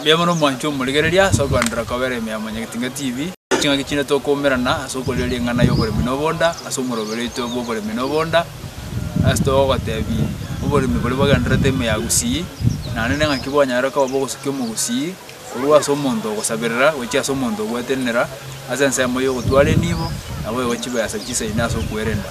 Mbuya mono mwanchwa omorigereria ase okoenderera kobera ime ya Mwanyagetinga TV. Ching'aki chinde tokoumerana ase okorigereria ring'ana ya oboremi na obonda ase omoroberio oito bwa oboremi na obonda, ase togogotebi oboremi boria bwagendererete ime ya Gusii, naende ne ng'aki bwanyare koba bwa ogosukia omogusii korwa ase omonto ogosaberera gochia ase omonto ogwetenenera ase ensemo ya ogotwara enibo, naboigo chibesa chisaine ase okwerenda.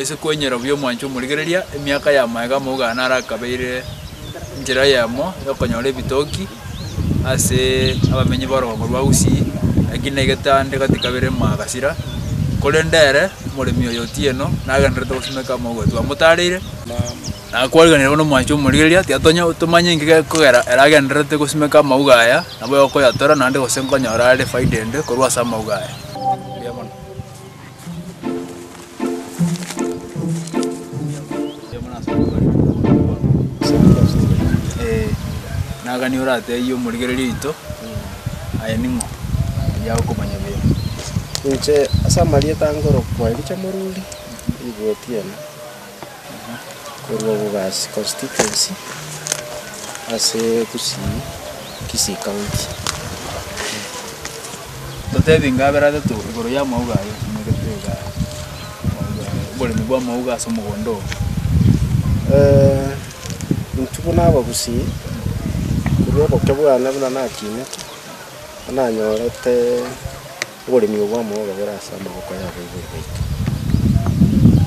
Ase kwenyora buya omwancho omorigereria, emiaka ya magega amauga naro akabeire enchera eyemo y'okonyora ebitoki ase abamenyi b'orogongo rwa Gusii, lakini naigete ande gati kabere Magasira, korende ere, omoremi oyo otieno, nagendererete gosimeka amauga twamotareire, na kwarigereire bono omwancho omorigereria, tiga tonya tomanya engaki ekogera ere agendererete gosimeka amauga aya, nabo okoyatora naende gose nkonyora are faida ende korwa ase amauga aya. Ee, na gani orateebie omorigereria oito, Aye ning'o? Oyio agokomanya buya. Inche ase amarieta angorokwa Elija Moruri, ribuoti ena. korwa Bogasi Constituency ase Gusii Kisii County. Totebi inga abere atato igoro ya amauga aye omanyete iga amauga aye oboremi bwa amauga ase omogondo oo. Intwe buna abagusii korwa oboke bwane buna nakinete, nanyarete. Oboremi obwo bw'amaoga bore ase amaboko y'abaibori baito.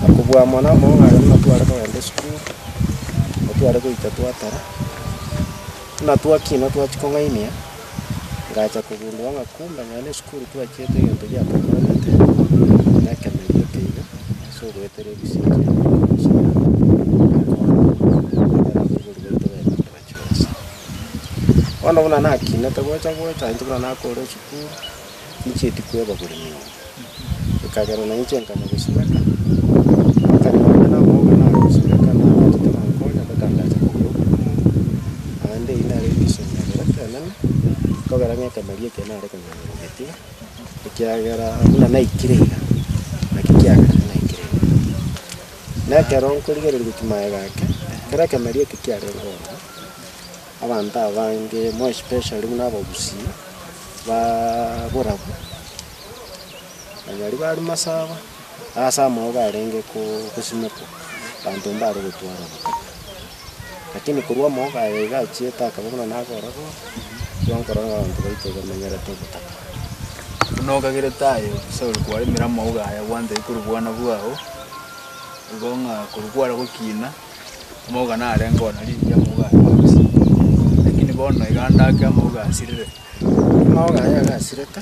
Na kobua amo namaoga aye buna tware kogenda esukuru, nigo tware goika twatara, buna twakina twachia kong'ainia, ngacha kogundua ng'a kumbe nonya na esukuru twachiete egento giatokorogete, na ekemenyo eke iga ase ogoetera ebisio ekiagera ekero twachia goika, twatara abaibori baito baye bato baito. Bono buna nakinete gocha gocha intwe buna nakore esukuru, ninchieti kwebagora emeeri, ekagera na inche nkanya gosibeka, ekero nabire na omoka nare gosibeka nabwatete abankonya mpaka ndacha kogura obokunia, naende eyio nere egesomo ekero ekenene, nkogera ng'a ekemeria eke nare konyora egetia, ekiagera buna naikire iga, naki kiagerete naikire iga. Na ekero nkorigereria gochia magega ake, kera ekemeria eke kiare ngonya, abanto abange, more especially buna abagusii, baaaa borabu, onye aria bare masaba, ase amaoba arenge ko- kosimekwa, abanto mbare gotwarana. Lakini korwa omooga aye iga achiete akaba buna nagoororwa, twankorora ng'a abanto baito iga bamenyerete ogotaka. Buna okagerete aye, Sauli kwaremire amauga aya gwanchaigwe korwa obwana bwao, igo ng'a korwa kware gokiina, amauga narenge oo nari inche amauga aya agosia. Lakini bono iga ndake amauga asirire. Amauga aya iga asirete.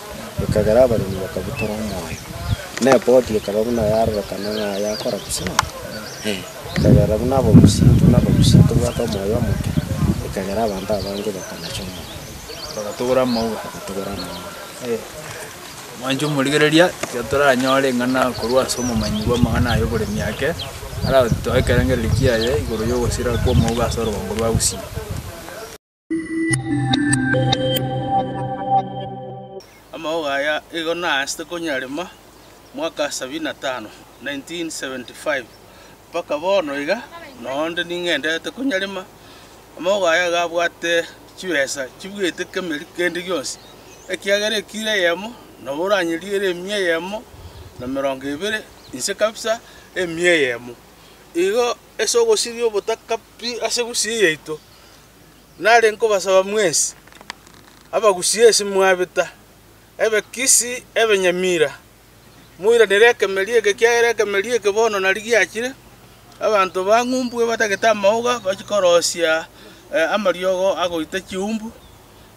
ekagera abaremi bakabutora omoyo, na eboti ekaba buna yarorekana ng'a yakora bosio, ekagera buna abagusinto na abagusia tobwate omoyo omoke, ekagera abanto abange bakanacha omoyo, bagatogora amauta. Mwanche omorigereria, tiga toranyore eng'ana korwa ase omomanyi bw'amang'ana aya oboremi ake, aratoe ekerengererio kiaye igoro yogosira kw'omouga ase orogombo rwa Gusii. Amaogo aya igo naasete konyarema mwaka 75, 1975, mpaka bono iga noonde ning'endete konyarema. Amaogo aya iga abwate chibesa chibuete kemeri kende gionsi, ekiagera ekiro eyemo nabo oranyeriere emia eyemo na emerongo ebere inse kabisa emia eyemo. Igo ase ogosiria obotaka pi ase Gusii yaito. Nare nkobasaba mwensi, abagusie ase mwabeta, ebekisi ebenyamira, moiranere ekemeeri eke, ekiagera ekemeeri eke bono nari giachire, abanto bang'umbwe batagete amaoga bachie korosia amariogo agoita chiumbu,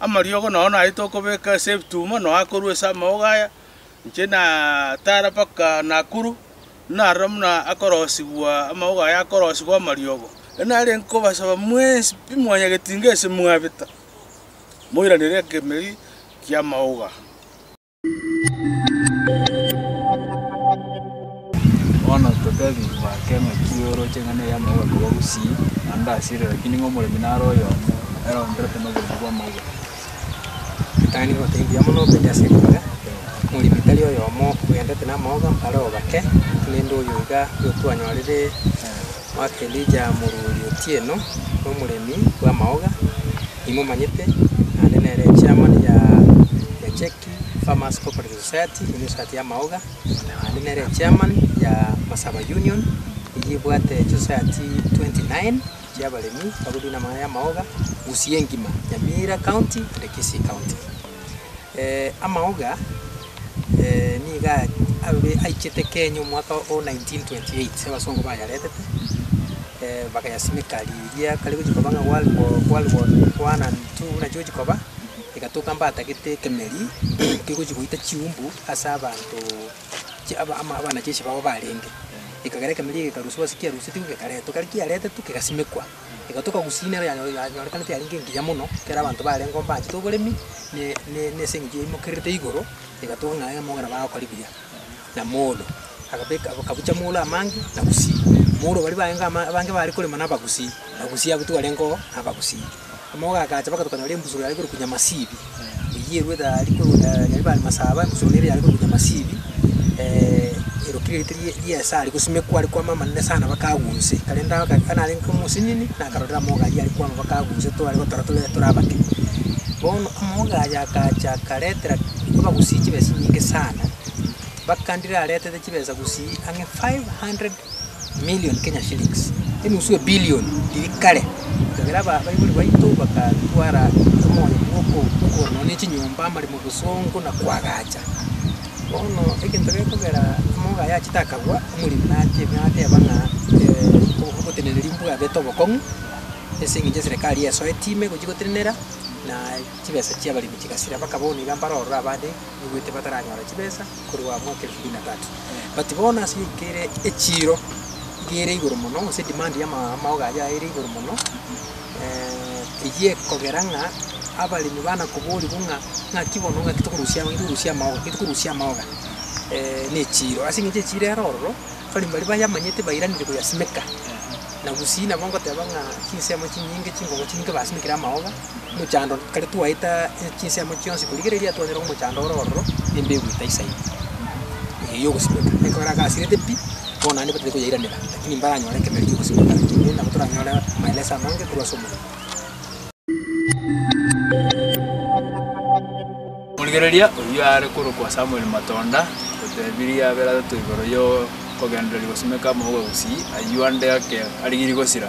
amariogo nao naete okobeka ase ebituma, nao akorwa ase amaoga aya, inche natara mpaka Nakuru. naroro buna akorosigwa amagogo aye akorosigwa amariogo. Ekero narenge kobasaba mwensi pi mwanyagetinga ase mwabeta, moiranere ekemeeri ki'amagogo aa. Bono totebigwe ake ng'aki oroche ng'a nere amagogo akorwa gusii naende asire, rakini ng'a omoremi nare oyomo, ere oonderete noboremu bw'amagogo. Ritang'ani egoteba mbuya mono obende ase ribare, moremi tari oyomo ogenderete namooga, mbare obake, korende oyo iga nigo twanyorire omwaka Elija moruoti otieno, nomoremi bw'amaoga, nimomanyete, naende nere echairman ya ya CHEC, Farmers Cooperative Society, eyio nesociety yamaoga, naende nere echairman ya Masaba Union, eyio ebwate chisociety twenty nine. chiabaremi bagotunywa namang'ana y'amaoga, Gusii engima, Nyamira County and Kisii County. Amaoga niga abe aichete Kenya omwaka o 1928 abasongo bayaretete bagayasimeka riria kare gochia koba ng'a World War World War One and Two buna chigochia koba, egatoka mbatagete ekemeri kegochia goita chiumbu ase abanto. chiaba ama abana chiesie babo barenge. Ekagera ekemeria egekaruswa ase kiarusetigwe gekaretwa, ekero kiaretetwe kegasimekwa. Egatoka gusina ero yanyore yanyorekanete yarenge engiya mono, ekero abanto barengeo mbaachete oboremi ne ne ne ase eng'encho yaimokererete igoro, egatoka ng'a iga mogera bagokora buya. Na molo agabeka akabucha molo amange na gusii. Molo baria barenge ama abange bare korema na abagusii, abagusii abwo tibarengeo na abagusii. Omogogo agacha bagatukana rembusuro riaye korokwa Nyamasibi, eyio eruete aria korwa Nyaribari Masaba, embusuro nere yare korokwa Nyamasibi, erokire erite rie ri'esari gosimekwa are kwama amanene sana bakagwa onse. Korende aka ekero narenge omosinini, nakarorera amogogo ayio are kwama bakagwa onse tware gotora tore tore abake. Bono omogogo aye agacha akaretera abagusii chibesa chinyinge sana, bakandire aretete chibesa gusii ang'e five hundred. million Kenya shillings, enusu ebilion iri kare. Ekagera aba abaibori baito bagatwara omoyo bw'okogora nonya ne chinyomba, amaremo, obosongo, na koagacha. Bono egento gekogera amoga ayache takagwa, omoremi nate- nateba ng'a oboteneneri mbwabete obokong'u, ase eng'encho eserekari esoeti ime gochia gotenenera, na chibesa chiabaremi chigasira, bakaba bono iga mbarorora abande, naigwete bataranyora chibesa. korwa mwaka elfu mbili na tatu. But bono ase ebibukia ere echiiro iga ere igoro mono gose demand ya ama- amaogo ayio ere igoro mono eh, eyio ekogera ng'a abaremi bana koborigwa ng'a ng'aki bono ng'aki tokorusia ng'aki tokorusia amaogo ng'aki tokorusia amaoga eh, na echiiro. Ase eng'encho echiiro ere ororo, abaremi baria bayamanyete bairanire koyasimeka. Na gusii nabo ngoteba ng'a chinsemo chinyinge, chinkongo chinyinge basimekire amaoga. mochando kare twaeta chinsemo chionsi korigereria twanyora omochando ore ororo embe egoita isa ime eye yogosimeka. Ekero agasirete pi, bono naende batari koyairanera, lakini mbaranyore ekemer ki'ogosimeka ime nabo toranyore maeleso amange korwa ase omorembe. Omorigereria oyio are korokwa Samuel Matonda otebirie abere atato igoro y'okogendereria gosimeka amauga gosii ayio ande ake arigirie gosira.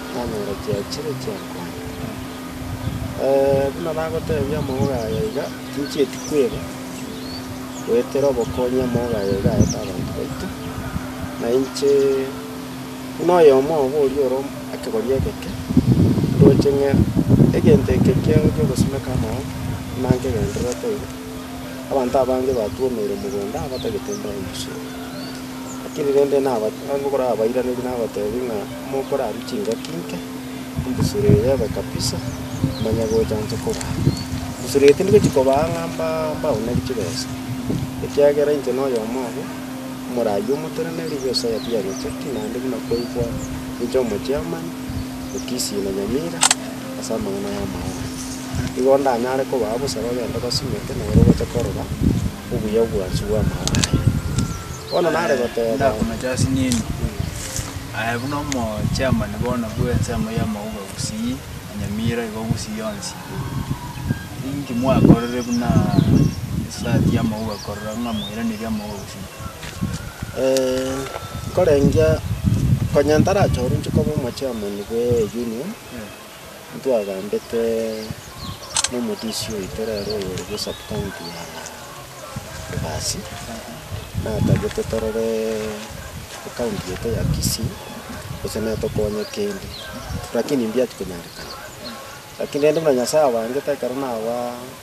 nanyora chiachire chi'enkomo. Buna nagotebia amauga aye iga, tinchieti kweba, goetera obokonyi amauga aye iga aete abanto baito, na inche buna oyomo obo oria ore ekegori egeke, ndoche ng'a egento eke kiao ki'ogosimeka amaboko, buna nkegendererete iga, abanto abange batwomeire mogondo abatagete mbarusie. Lakini rende naba- nabokora abairaneria nabatebi ng'a. Mokorarue chingaki inke, embusuro eye ebe kabisa, manya gocha inche korara. Embusuro eye tindigochia kobaa ng'a mba- mbaoneri chibesa, ekiagera inche noyomo obo, omoraai omoteneneri bw'ense eye tianyocheti, naende buna kwaigwa ninche omochiamani, Mukisi na Nyamira, ase amang'ana y'amao aya. Igo ndanyare kobaa bosa bagende basimeke nere bache korora. obuya obwansu bw'amao aye. Bono nare goteeba. Aye buna omochairman bono bw'ensemo y'amauga gusii na Nyamira igo gusii yonsi, inki mwakorire buna society y'amauga korora ng'a mwairaneria amauga gusii? Nkorengia, konya ntarache orwo inche koba omochairman bw'eunion. ntwagambete nomodisi oito rero oyore bwe sub county ya Ebasi, natagete torore county yaito ya Kisii gose natokonye kende, rakini mbiatia konyarekana. Rakini rende buna Nyasaye abangete ekero naba.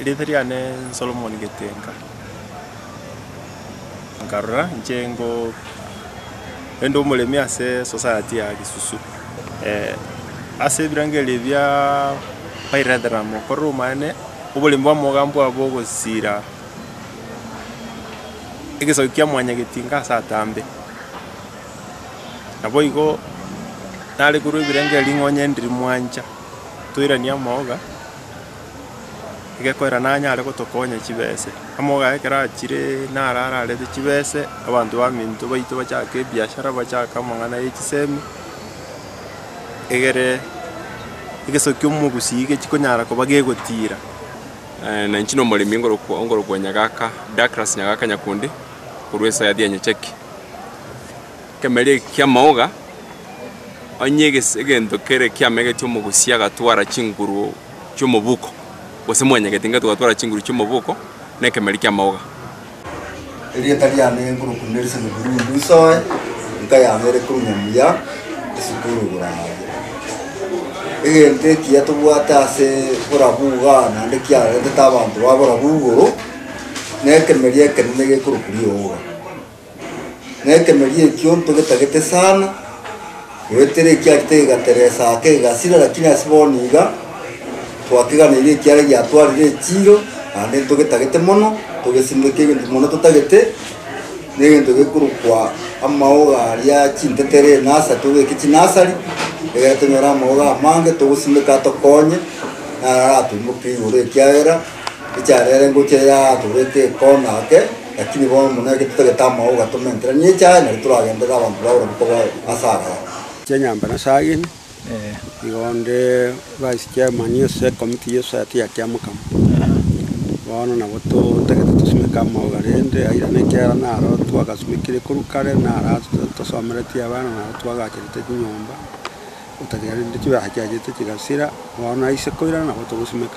Erieta riane Solomoni Getenga. Nkarora inche ngo ende omoremi ase society ya Kisusu. Ase ebirengo ebi bia Paidentera mokorere omwene oboremi bwa mogambi obo ogosira egesaku kia Mwanyagetinga ase atambe. Naboigo nare korwa ebirengererio ring'onya endi rimwancha, toiranie amaoga, egekoera nanyare gotokonya chibese. Amaoga aye ekero achire naro ararete chibese, abanto baminto baito bachake ebiashara, bachake amang'ana ye chisemi, egere egeso ki'omogusii gekonyara koba gegotira. Na inche nomoremi ngorokwa Nyagaka, Douglas Nyagaka Nyakundi, korwa esayari ya Nyachaki. Ekemeria eke ki'amaoga, onye eges- egento kere kiamegetie omogusia agatwara chinguru chi'omoboko, gose mwanyagete ingato gatwara chinguru chi'omoboko, nekemeria ki'amaoga. Erieta riane nkorokwa Nelson Burundu Isoe, enka yane ere korwa Nyamuya esukuru Burayi. Egento ekiya tobwate ase borabu iga naende kiarentete abanto ba borabu igoro, nekemeria ekenene gekorokwa rioga. na ekemerio ekio ntogetagete sana, goetera ekiarita egegateresa ake egasira, lakini ase bono iga twakeganeirie ekiara giatwarire echiiro, naende ntogetagete mono, ntogesimeke egento mono totagete, na egento gekorokwa amaoga aria chintetere enasa tobeke chinasari, egere tonyore amaoga amange togosimeka atokonye, naro aratoimoke igoro ekiagera echara ere ngocha yaatorete ekona ake. Lakini bono buna eke totagete amao ogatomentera, nigo echi aye nari toragenderere abanto ba Roma koba ase agaaka. Chinyambe na saa ine igo onde bwasikiamani ase ekomiti y'esaati ya Kiamokamo. Bono nabo totagete tosimeke amao rende airane ekiagera naro twagasimekire korwa kare, naro ato tosomeretie abana, naro twagacherete chinyomba, gotakeire rende chibara chiachete chigasira, bono aise koirana nabo togosimeka.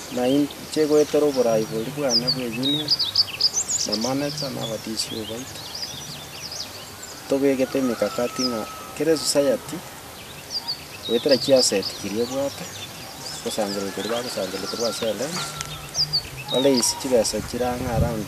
Na inche goetera oboraai boria bwane bwe union, na manager, na abaDCU baito, tobegete emekakati ng'a kera esociety, goetera chiasset chiria ebwate, gosangererekwa eria bagosangererekwa ase Alliance, baraise chibesa chirang'a around.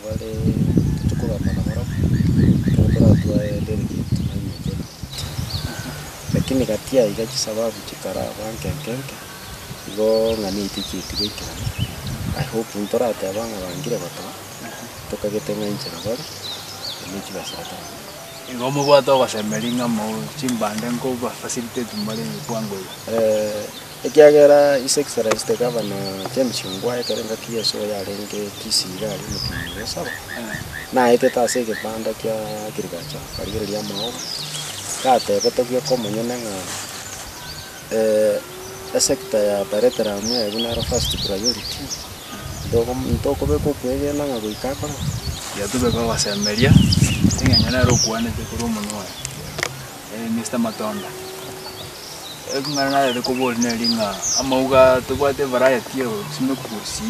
Bare titokogamba nabarabwo, ekero toratwae deriki tobaimokerie. Lakini gati yaiga chisababu chikaraba nke nke nke, igo ng'a niaito chiaito baikerane, I hope ntorateba ng'a bangire gotoa, tokagete ng'a inche nabare, erio chibesera torakora. Igo mobwate ogosemeria ng'a moe chimbande nko ba facilitate more bwango iga. Ekiagera ise Kisarais tekaba na chemchungwa ekero engaki Yeso yarenge chisiiga aria omotienyi obo Saba, naetete ase egebanda kia kirigacha akarigereria amaoba, gatebete bweka omonyene ng'a, Esekta ya Bareteramu eye buna ero first priority, ntogo ntokobeka okwegena ng'a goika akoraba. Tiga tobe bagosemeria, egencho nere okwanete korwa omonwa oye. Mister Matonda. Ring'ana narenge koboria neri ng'a amauga tobwate evariety of chimikus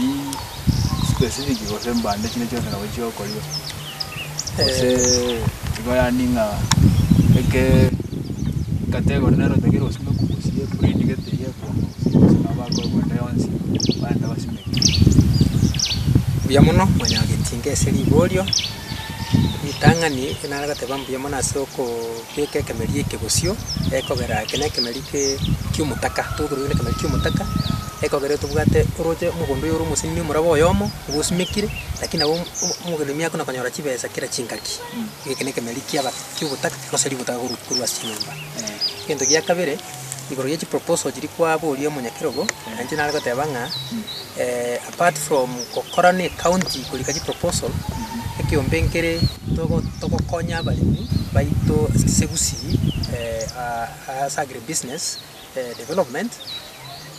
specific gose mbande chinde chionsi nabo chigokorio gose igo yaani ng'a eke category nero otakeire gosima ekurusi eye breed gete eye ekwama gose eye gose nabo bakobua mbande yonsi barenta basime Mbuya mono Mwanyagetinga ase riborio, ritang'ani, ekio nare goteba mbuya mono ase okoo. Beka ekemeria eke bosio ekogera eke nekemeria eke ki'omotaka, tobokerwa eke nekemeria ki'omotaka, ekogera tobwate oroche omogondo oyo ore omoseimie omoraba oyomo nigo osimekire, lakini nabo omogenimi akona konyora chibesa kera chingaki. Eke nekemeria kiaba ki'obotaka gose ribotaka korwa korwa ase chinyomba. Egento gia kabere, igoro ye chiproposal chiria kwaboria omonyakerogo, nainche nare goteba ng'a Apart from gokora ne county korika chi proposal, ekiombe nkere togo togokonya abaremi baito ase Gusii ase agri business development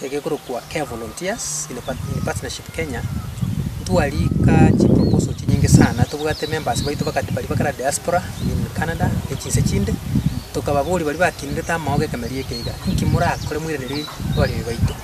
egekorokwa Care Volunteers in Partnership Kenya, ntwarika chi proposal chinyinge sana tobwate members baito bakati baria bakare diaspora in Canada ne chinse chinde, tokababoria baria bakinirete amaogo ekemerio eke iga, inki morakore moiranerie abaremi baito.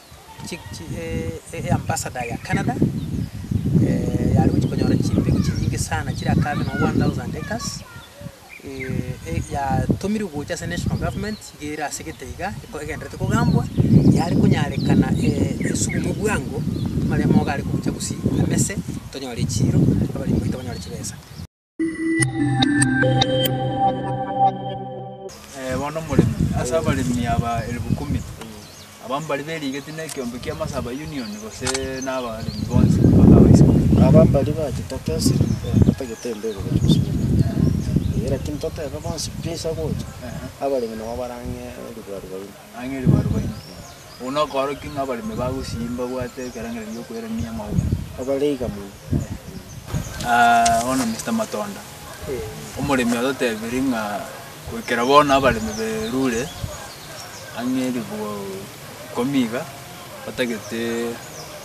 chi chi eambassador ya Canada, yare gochia konyora chimbegu chinyinge sana chire akabe noo one thousand acres, yatomirwe gocha ase national government iga ere ase egete iga, eko egendererete kogambwa, yare konyarekana esugume bwango, amaremo iga are gocha gosii amese, tonyore echiiro, abaremi baito banyore chibesa. Bono omoremi ase abaremi aba elfu kumi, abamo baria berigeti na ekeombe kia Masaba Union gose na abaremi bonsi mpaka abaisiko. Aba mbaria bachete gesi batagete embegu gochia gosibeka. Lakini totebe bonsi pi nsa gocha, abaremi nabo barang'e ribwaru baino. Ang'e ribaru bainke. Obo nokoorokia ng'a abaremi bagosii mbabwate ekerangera gi'okoirania amauga. Abare iga mono. Aah bono Mister Matonda, omoremi ototebirie ng'a goikera bono abaremi berure ang'e ribugo ikomi iga batagete.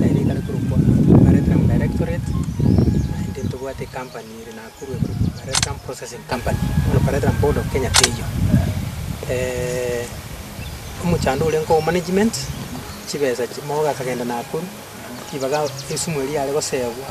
naye nigo are korokwa Barrett Rum Directorate, naende ntobwate ecompany ere Nakuru ekorokwa Barrett Rum Processing Company, bono Barrett Rum Board of Kenya teiyo. omochando oria nko management, chibesa chi- mogo gakagenda Nakuru, ribaga esumu eria yare goseegwa.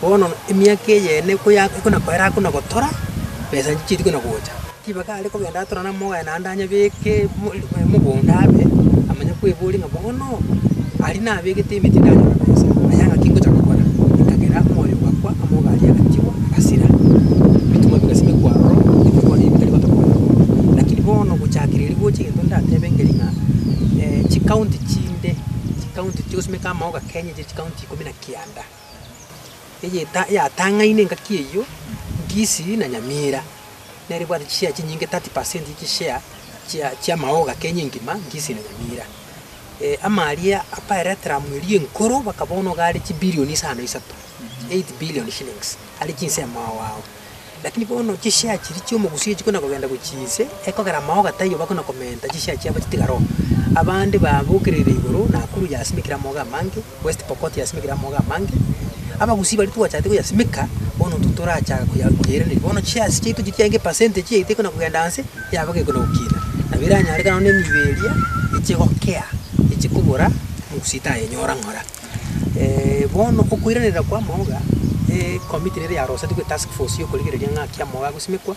Bono emiaka eyene ekoya ekonakoera akona gotora, besa inche chiaria kona gocha. Ribaga are kogenda atorane amogaye naende anyabeke mo eh mogondo abe, amanye kweboria ng'a bono, aria nabegete emeti ndanyore besa, aya ng'aki ngocha gokora? Ekagera omoyo ogakwa, amogaye agachirwa, agasira. Ebitumwa bigasi bikwa aroro, ebikori ebitari gotokorwa nabo. Lakini bono gochakera erio gocha egento ndatebe nkeri ng'a chikaunti chinde, chikaunti chigosimeka amaoga Kenya chire chikaunti ikomi na kianda. eyeta yatang'aine engaki eyio, Nkisii na Nyamira, nere ebwate chishare chinyinge, 30 per cent ye chishare chia chiamaoga Kenya engima, Nkisii na Nyamira. Eh, amaria akoereteramu eria enkoro baka bono iga are chibilioni isano isato, eight billion shillings, are chinse amaogo ao. Lakini bono chishare chiria chiomogusii chikona kogenda gochia inse, ekogera amaoga taiyo bakona komenta chishare chiabo chitigare oo. Abande babokerere igoro Nakuru yasimekire amaogo amange. West Pokot yasimekire amaogo amange, abagusii baria twachakete koyasimeka bono intwe torachaka koya koyairaneria. Bono chiasi chiaito chiria chiaenge percentage yaito ekona kogenda anse, yaba gekona gokina. Nabo eranyareke nonye na emiibo eria eche gokea, eche kobora omogusii tayenyora ng'ora. bono okoiraneria kwa amaoga, ecommit rero yaroseti gwe task force yokorigereria ng'aki amaogo agosimekwa.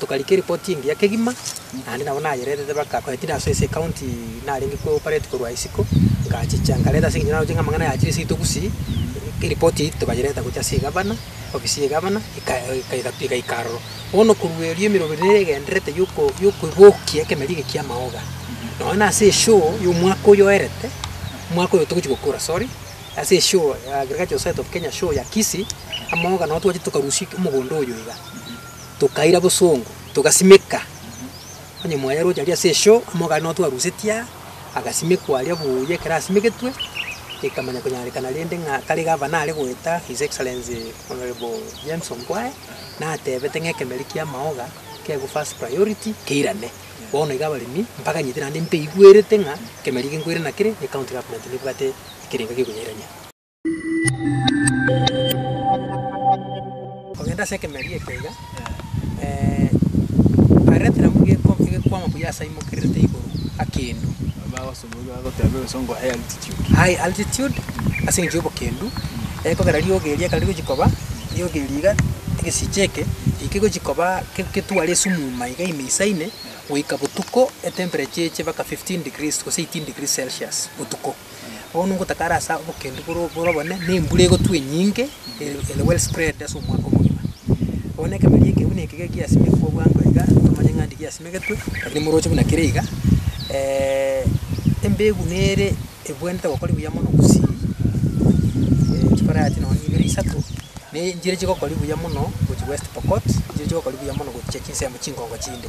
Tokarika eripoti engiya kegima, naende nabo nayererete baka korwa Tidaso ase ecounty narenge ko operate korwa isiko, ngachicha nkareta ase engencho naroche ng'a amang'ana aya achire seito gusii, eripoti eye tokayereta gochia ase egavana, ofisi ya egavana eka eka egatu egaika aroro. Bono korwa erio emerogo ere nere egendererete yoko yokobokia ekemeri eke kia amaoga, nonya na ase eshoo ya omwaka oyo oerete, omwaka oyo togochi gokora sorry, ase eshoo ya Agricultural Society of Kenya show ya Kisii, amaoga nabo twachire tokarusia omogondo oyo iga. tokaira bosongo, togasimeka. Onye mwayeroche aria ase eshoo, omogani nonya twarusetie aa, agasimekwa aria buuya ekero asimegetwe, ekamanya konyarekana rende ng'a kare gava nare goeta His Excellency Honourable James Ongwae, natebete ng'a ekemer ki'amaoga kegwe first priority keirane. Bono iga abaremi mbaganyete naende mbeigwerete ng'a ekemer eke nkoirana kere, ne County Government nebwate ekerego egekonyairania. Kogenda ase ekemeeri ekio iga, Arete nabwo egeko- egekwama buya aase aimokererete igoro akendu. Aye, altitude, ase eng'encho y'obokendu, ekogera riogi eria ekero rigochia koba, riogi eria iga, egesiche eke, ekero kegochia koba ke- ketware esumuma iga ime isaine, goika botuko, etemperature eche mpaka fifteen degrees gose eighteen degrees celsius botuko. Bono ngotakara ase obokendu bore bore obonene, na embura egotwa enyinge, ere ere well spread ase omwaka omogima. Bono na ekemeria eke buna eke gekiasimekwa bwango iga, ntomanye ng'a nde giasimegetwe, lakini moroche buna kere iga, embegu nere ebwenerete gokori buya mono gusii, chikoro yaye nonye na ibere isato, na enchera chigokori buya mono gochia West Pokot, enchera chigokori buya mono gochia chinsemo chinkongo chinde.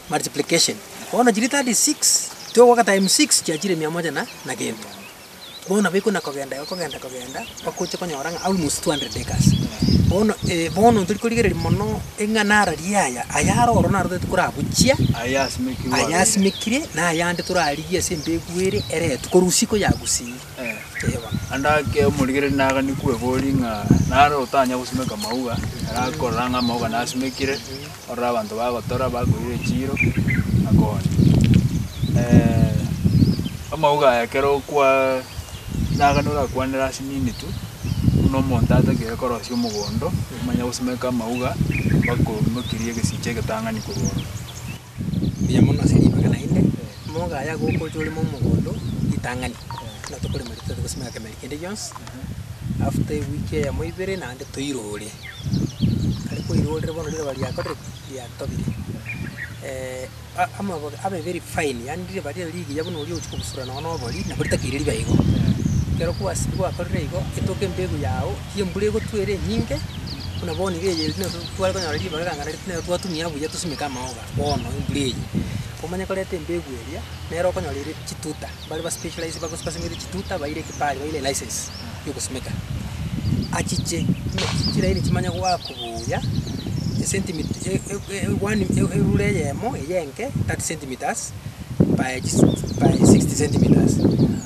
multiplication. Bono chiri 36 tiogoaka times 6 chiachire mia moja na na gento. Bono nabo ekona kogenda iga kogenda kogenda mpaka oche konyora ng'a almost 200 acres. Bono eh bono tori korigereria mono eng'ana ara riaya, aya are ororo narorete koragochia, Ayasimekirwe aya abere. asimekire na ayande torarigie ase embegu ere eretu korwa usiku yagusiire. Naende ake omorigereria nagani kweboria ng'a nare otanya gosimeka amauga, arakorora ng'a amauga nasimekire, ororo abanto bagotora bakoira echiiro, akonye. amauga aya ekero okwaa nagani orakwanere ase minute buna omonto atagete korosia omogondo, omanye gosimeka amauga, bakoimokirie egesicha egetang'ani korwa ororo. mbuya mono ase ribaga naende, moga aya gokocha oreme omogondo ritang'ani, buna tokorema rituta togosimeka kemeri kende gionsi, after ewiki eyemo ibere naende toirore. Ekero twairorire bono riroba riakorire ki? Riatobire. a- amabaga abe very fine, yaani riroba riaye rigiya buna oria ogochia kobusura nonye na obori, nabo ritakeire ribe igo. Ekero kwasi- kwakorire igo, etoke embegu yago. Eki embura egotwa ere enyinge, buna bono iga eye nigo tware konyora ribaga ring'ana riria nere twatumia buya tosimeke amaoba bono embura eye. Omanye koreta embegu eria, nere okonyora ere chituta, mbare ba specialize bagosi basimete chituta baire ekebari baire elicense ya ogosimeka. Achiche buna chiraini chimanye goakwa buya, esentimita one erure eyemo eye enke thirty centimetres. by chis by sixty centimetres,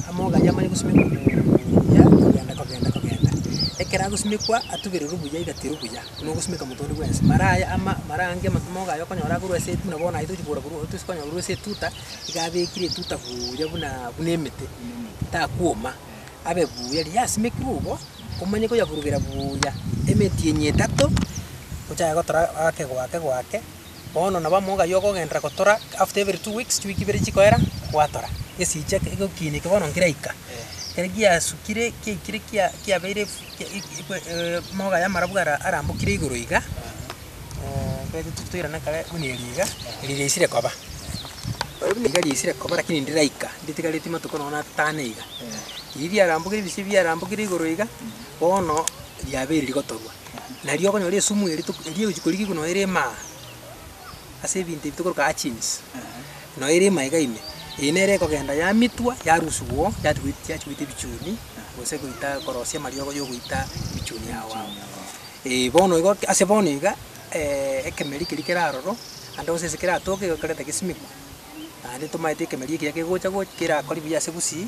amoga aywo amanye gosimekwa buuya kogenda kogenda kogenda. Ekero agosimekwa atubererwe buya iga terwa buya, buna ogosimeka omonto onde bwensi. Mara aye ama mara ange ama amoga aywo okonyora akorwa ase etu buna bono aye tochi kogora korwa tosi kogora korwa ase etuta, iga abekire etuta buuya bunaa buna emete, takwoma, abe buuya. Riria yasimekirwe igo, omanye koyaburugera buuya emeti enya etato, ochake gotora ake goake goake. Bono nabo amo ghaiyo ogogenderera gotora after every two weeks, chiwiki ibere chikoera gwatora. Gesiche egokiina eke bono nkiraika, ekero giasukire kiaikire kia kiabeire fu kia amauga y'amarabwo ara arambokire igoro iga, ekero totuki toirana kare buna eri iga, eri riaisire koba. Eri buna iga riaisire koba lakini ndiraika, nditigaretie amatuko nonye na atano iga. Eri riarambokire ebise ebi biarambokire igoro iga, bono riabeire rigotorwa. Nario okonyora esumu eri tok- eria egochi korikigwa noyo ere emaa, ase ebinto ebi tokoroka hatchings, noyo ere ime iga ime, eye nere ekogenda yamitwa, yarusigwa oo, yati goit- yachi goita ebichuni, gose goita korosia amariogo ya ogoita ebichuni ao ao. Ee bono igo ki- ase bono iga ekemeri keria kere aroro, naende gose ase keratoke igo ekerenta gesimekwa, naende tomaete ekemeri ekiya kegocha goch- kerakori buya ase gusii.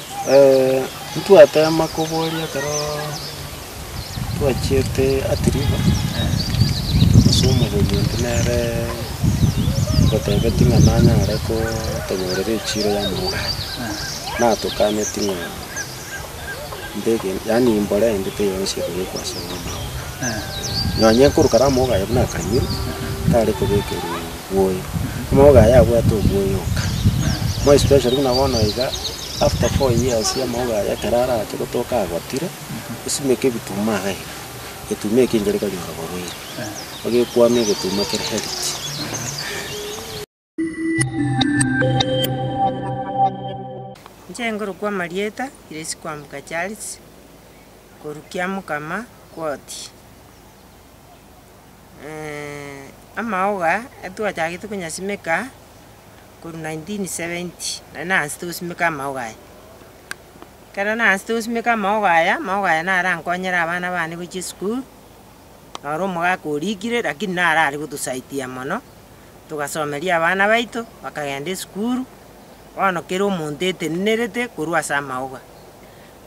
Ntwateema koboria ekero twachiete Atiriko, ase omogeni onde nere ngotebetie ng'a nanyare kotonyorera echiiro y'amauga aya, natokaneti ng'a mbeke yaani mbore ende teiyo nse ekobekwa asore amauga aya. Nonye nkorokare amauga aye buna akanyure, tare kobekerwa. obwoyo, amaboko aye abwate obwoyo oka, more especially buna bono iga after four years amaboko aye ekero arache gotoka agotire, osimeke ebituma iga iga, egetuma ekio ngeria konyora oborwaire, ogekwama egetuma kere healthy. Inche ngorokwa Marieta Grace Kwambuka Charles, korwa Kiamokama, Kwotia. amaoga etwachagete konyasimeka korwa nineteen seventy nari naansete gosimeka amaogo aya. Ekero naansete gosimeka amaogo aya, amaogo aya naro arankonyere abana bane gochia esukuru, noro omogaka orikire lakini naro are gotosaidia mono, togasomeria abana baito bakagenda esukuru, bono kera omonto etenenerete korwa ase amaoga.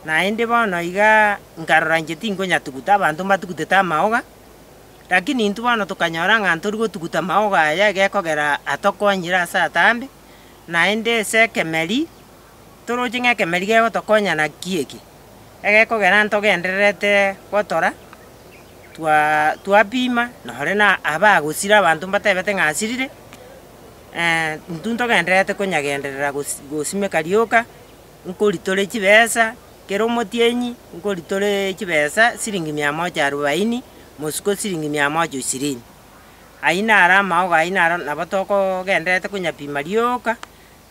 Naende bono igaa nkarora inche tingonyatuguta abanto mbatugutete amaoga. Lakini intwe bono tokanyora ng'a ntori gotuguta maogo aya gekogera atokonyire ase atambe, naende ase ekemeri toroche ng'a ekemeri gegotokonya naki eke, egekogera ntogendererete gotora twa- twapima nore na abagosira abanto mbatebete ng'a asirire, intwe ntogendererete konyagenderera gosi- gosimeka rioka. nkoritore chibesa, kera omotienyi nkoritore chibesa siringi mia moja arubaini, mosuko siringi mia moja ishirini. Ayio naro amaogo ayio naro nabo tokogendererete konyapima rioka,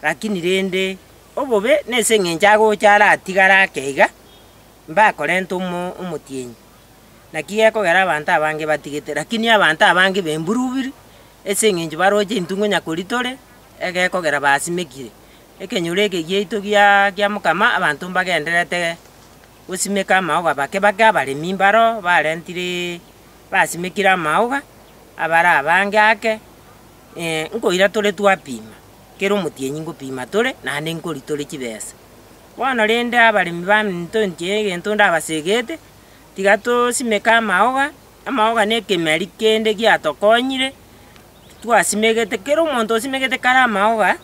lakini rende obobe nase eng'encho agocha aratigare ake iga, mbakorenta omo omotienyi. Naki gekogera abanto abange batigete, lakini abanto abange bemburubiri ase eng'encho baroche intwe ngonya koritore, egekogera basimekire. Ekenyoro eke giaito giakia mokama abanto mbagendererete gosimeka amaoga bake bake abaremi mbaro barentire basimekire amaoga abare abange ake nkoira tore twapima kera omotienyi nkopima tore naende nkori tore chibesa. Bono rende abaremi baminto inche egento ndabasegete tiga tosimeke amaoga, amaoga na ekemeri kende giatokonyire. twasimegete, kera omonto osimegete kare amaoga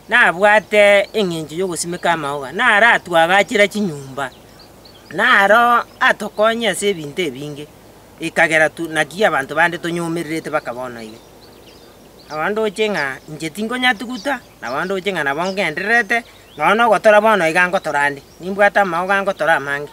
nabwate eng'encho y'ogosimeka amaoga, naratwagachera chinyomba, naro atokonye ase ebinto ebinge, ekagera tu naki abanto bande tonyomererete baka bono iga. Nabo ndoche ng'a inche tinkonyatuguta, nabo ndoche ng'a nabo ng'endererete, nonya na ogotora bono iga ngotora ande, nimbwate amaoga ngotora amange.